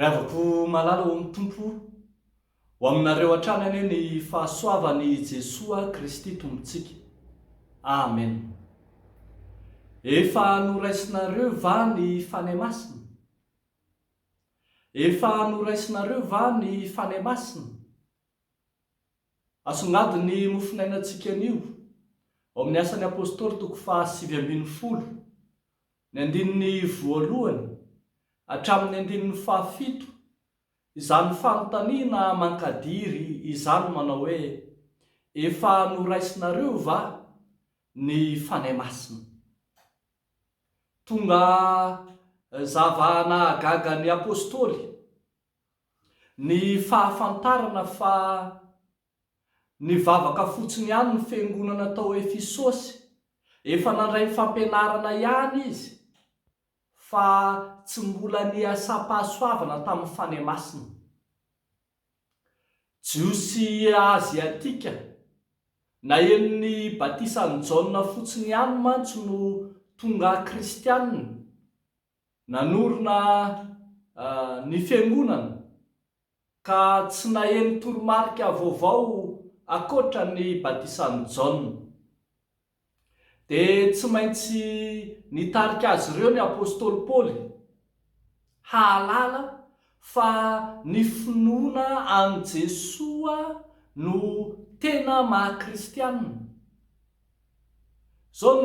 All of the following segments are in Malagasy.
Rehavako malala ao amin'ny Tompo, ho aminareo hatrany anie ny fahasoavan'i Jesoa Kristy Tompontsika. Amen. Efa noraisinareo va ny Fanahy Masina? Efa noraisinareo va ny Fanahy Masina? Asongadiny ny mofonainantsika anio, ao amin'ny Asan'ny Apostoly toko fahasivy ambin'ny folo, ny andininy voalohany hatramin'ny andininy fahafito, izany fanontaniana mankadiry izany manao hoe, Efa noraisinareo va ny Fanahy Masina? Tonga zava-nahagaga ny apostoly ny fahafantarana fa nivavaka fotsiny ihany ny fiangonana tao Efisosy. Efa nandray fampianarana ihany izy fa tsy mbola niasam-pahasoavana tamin'ny fanahy masina. Jiosy Aziatika. Naheno ny batisan'i Jaona fotsiny ihany mantsy no tonga kristiana. Nanorina ny fiangonana, ka tsy naheno toromarika vaovao ankoatra ny batisan'i Jaona. Dia tsy maintsy nitarika azy ireo ny apostoly Paoly hahalala fa ny finoana an'i Jesoa no tena maha kristiana. Izao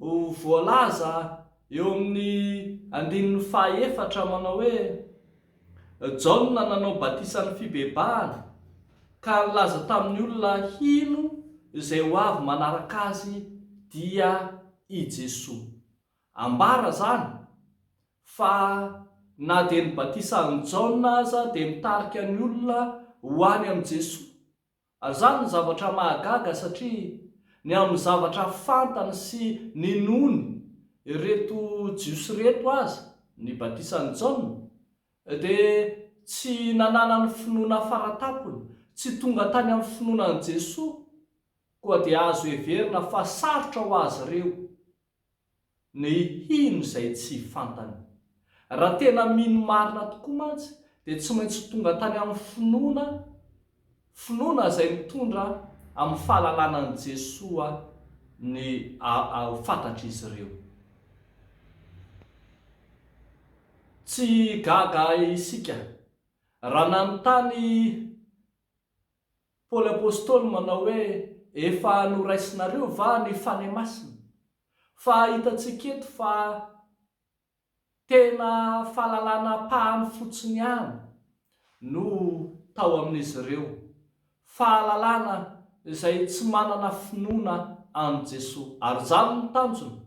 no voalaza eo amin'ny andininy fahaefatra manao hoe. Jaona nanao batisan'ny fibebahana, ka nilaza tamin'ny olona hino izay ho avy manaraka azy dia i Jesoa. Ambara izany fa na dia ny batisan'i Jaona aza dia nitarika ny olona ho any amin'i Jesoa. Ary izany no zavatra mahagaga satria ny amin'ny zavatra fantany sy ninoany ireto Jiosy ireto aza, ny batisan'i Jaona, dia tsy nananany finoana faratampony, tsy tonga tany amin'ny finoana an'i Jesoa, koa dia azo heverina fa sarotra ho azy ireo. Ny hino izay tsy fantany. Raha tena mino marina tokoa mantsy dia tsy maintsy tonga tany amin'ny finoana, finoana izay mitondra amin'ny fahalalana an'i Jesoa ny fantatr'izy ireo. Tsy gaga isika raha nanontany. Paoly Apostoly manao hoe efa noraisinareo va ny Fanahy Masina? Fa hitantsika eto fa tena fahalalana ampahany fotsiny ihany no tao amin'izy ireo, fahalalana izay tsy manana finoana an'i Jesoa. Ary izany no tanjona,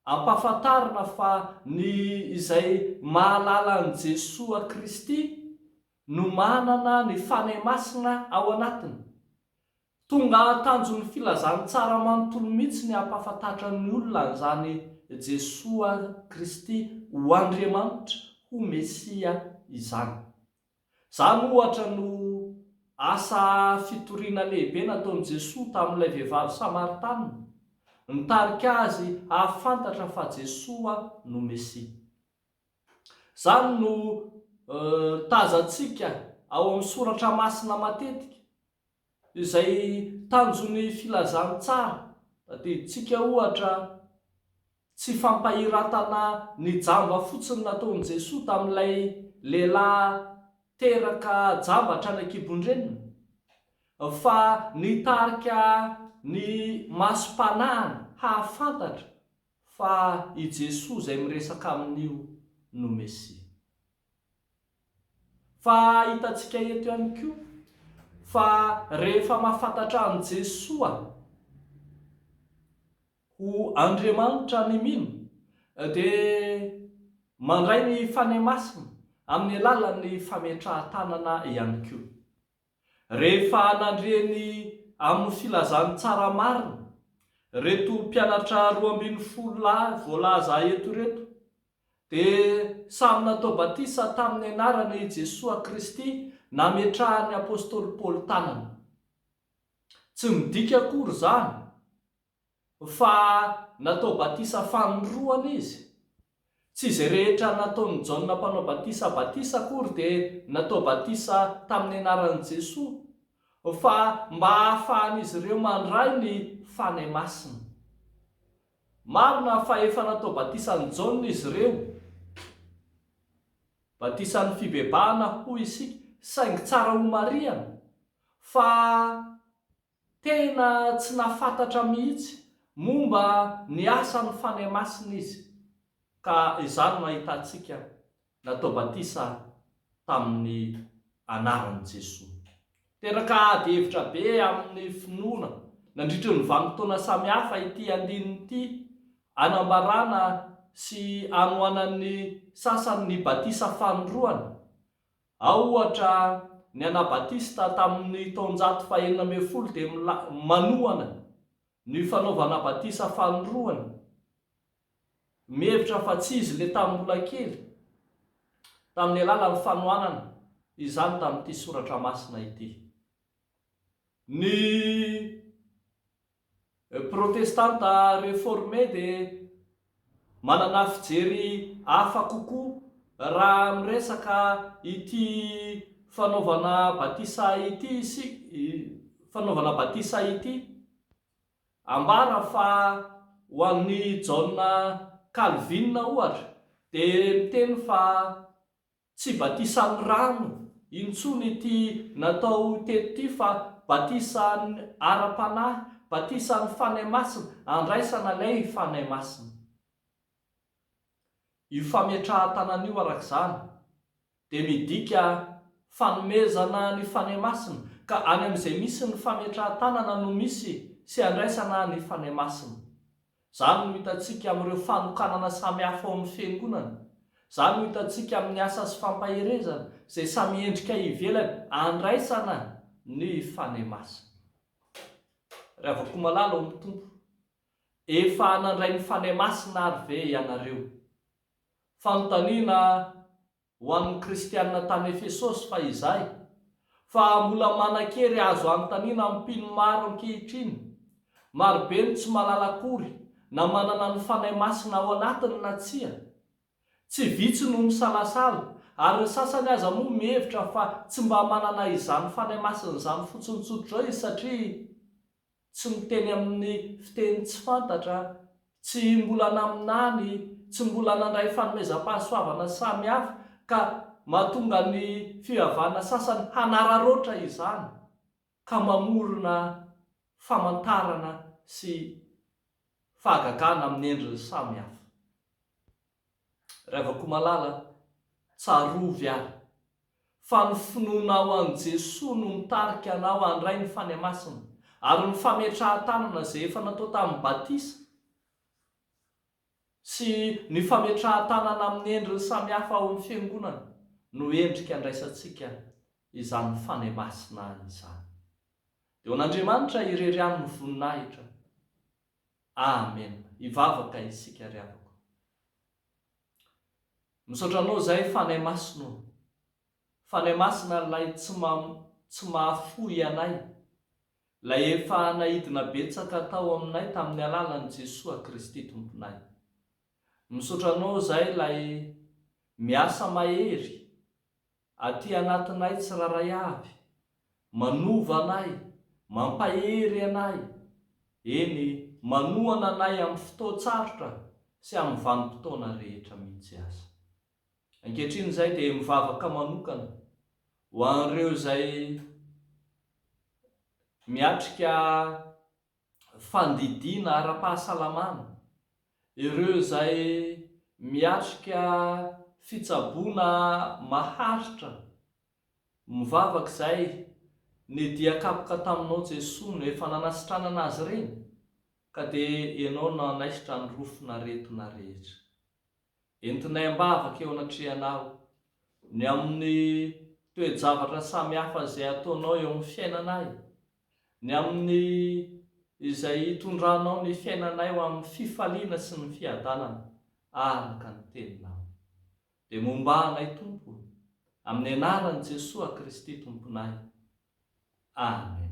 ampahafantarina fa ny izay mahalala an'i Jesoa Kristy no manana ny Fanahy Masina ao anatiny. Tonga hahatanjon'ny filazantsara manontolo mihitsy ny hampahafantatra ny olona an'izany Jesoa Kristy ho Andriamanitra, ho Mesia izany. Izany ohatra no asa fitoriana lehibe nataon'i Jesoa tamin'ilay vehivavy Samaritana, nitarika azy hahafantatra fa Jesoa no Mesia. Izany no tazantsika ao amin'ny Soratra Masina matetika. Izay tanjon'ny filazantsara, tadidintsika ohatra, tsy fampahiratana ny jamba fotsiny nataon'i Jesoa tamin'ilay lehilahy teraka jamba hatrany an-kibon-dreniny, fa nitarika ny masom-panahiny hahafantatra Fa i Jesoa izay miresaka amin'io no Mesia. Fa hitantsika eto ihany koa fa rehefa mahafantatra an'i Jesoa ho Andriamanitra ny mino dia mandray ny Fanahy Masina amin'ny alalan'ny fametrahan-tanana ihany koa. Rehefa nandre ny amin'ny filazan'ny tsara marina ireto mpianatra roa ambin'ny folo lahy voalaza eto ireto, dia samy natao batisa tamin'ny anarana i Jesoa Kristy nametrahan'ny apostoly Paoly tanana. Tsy midika akory izany Fa natao batisa fanindroany izy. Tsy izay rehetra nataon'i Jaona Mpanao Batisa batisa akory dia natao batisa tamin'ny anaran'i Jesoa, fa mba hahafahan'izy ireo mandray ny Fanahy Masina. Marina fa efa natao batisa an'i Jaona izy ireo, batisan'ny fibebahana hoy isika, saingy tsara homarihana fa Tena tsy nahafantatra mihitsy momba ny asan'ny Fanahy Masina izy, ka izany no ahitantsika natao batisa tamin'ny anaran'i Jesoa. Teraka ady hevitra be amin'ny finoana nandritry ny vanim-potoana samihafa ity andininy ity, anambarana sy anohanan'ny sasany ny batisa fanindroany, Ao ohatra, ny Anabatista tamin' ny taonjato fahenina ambin'ny folo dia manohana ny fanaovana batisa fanindroany, mihevitra fa tsy izy ilay tamin'ny mbola kely, tamin' ny alalan' ny fanohanana izany tamin' ity soratra masina ity. Ny Protestanta reforme dia manana fijery hafa kokoa raha miresaka ity fanaovana batisa ity isika, fanaovana batisa ity. Ambara fa ho an'i Jaona Kalvina, ohatra, dia miteny fa Tsy batisa amin'ny rano intsony ity natao teto ity fa batisa ara-panahy, batisa amin'ny Fanahy Masina, andraisana ilay Fanahy Masina. Io fametrahan-tanana io araka izany dia midika fanomezana ny Fanahy Masina ka any amin'izay misy ny fametrahan-tanana no misy sy andraisana ny Fanahy Masina. Izany no hitantsika amin'ireo fanokanana samihafa ao amin'ny Fiangonana. Izany no hitantsika amin'ny asa sy fampaherezana izay samy endrika ivelany andraisana ny Fanahy Masina. Ry havako malala ao amin'ny Tompo, efa nandray ny Fanahy Masina àry ve ianareo? Fanontaniana ho an'ny Kristianina tany Efesosy fa izay, fa mbola manan-kery azo anontaniana amin'ny mpino maro ankehitriny. Marobe ny tsy mahalala akory na manana ny Fanahy Masina ao anatiny na tsia. Tsy vitsy no misalasala, ary ny sasany aza moa mihevitra fa tsy mba manana izany Fanahy Masina izany fotsiny tsotra izao izy satria, tsy miteny amin'ny fiteny tsy fantatra, tsy mbola naminany, tsy mbola nandray fanomezam-pahasoavana samy hafa, ka mahatonga ny fivavahana sasany hanararaotra izany, ka mamorona famantarana sy fahagagana amin'ny endriny samy hafa. Ravakomalala a! Tsarovy ary fa ny finoanao an'i Jesoa no mitarika anao handray ny fania masina ary ny fametrahan-tanana izay efa natao tamin'ny batisa sy ny fametrahan-tanana amin'ny endriny samihafa ao amin'ny Fiangonana no endrika andraisantsika izany fania masina izany. Eo an'Andriamanitra irery ihany ny voninahitra. Amen hivavaka isika ry havako. Misaotra anao zay Fanahy Masina o. Fanahy Masina lay tsy tsy mahafoy anay, lay efa naidina betsaka tao aminay tamin'ny alalan'i Jesoa Kristy Tomponay. Misaotra anao zay lay miasa mahery Aty anatinay tsirairay avy. Manova anay, mampahery anay, eny, manohana anay amin'ny fotoan-tsarotra sy amin'ny vanim-potoana rehetra mihitsy aza. Ankehitriny izahay dia mivavaka manokana ho an'ireo izay miatrika fandidiana ara-pahasalamana, ireo izay miatrika fitsaboana maharitra, mivavaka izay ny dia kapoka taminao Jesoa no efa nanasitranana azy ireny, ka dia Ianao nanaisotra ny rofin'aretina rehetra. Entinay am-bavaka eo anatrehanao ny amin'ny toe-javatra samihafa izay ataonao eo amin'ny fiainanay, ny amin'ny izay itondranao ny fiainanay ho amin'ny fifaliana sy ny fiadanana araka ny Teninao. Dia mombà anay, Tompo o, amin'ny anaran'i Jesoa Kristy Tomponay. Amen.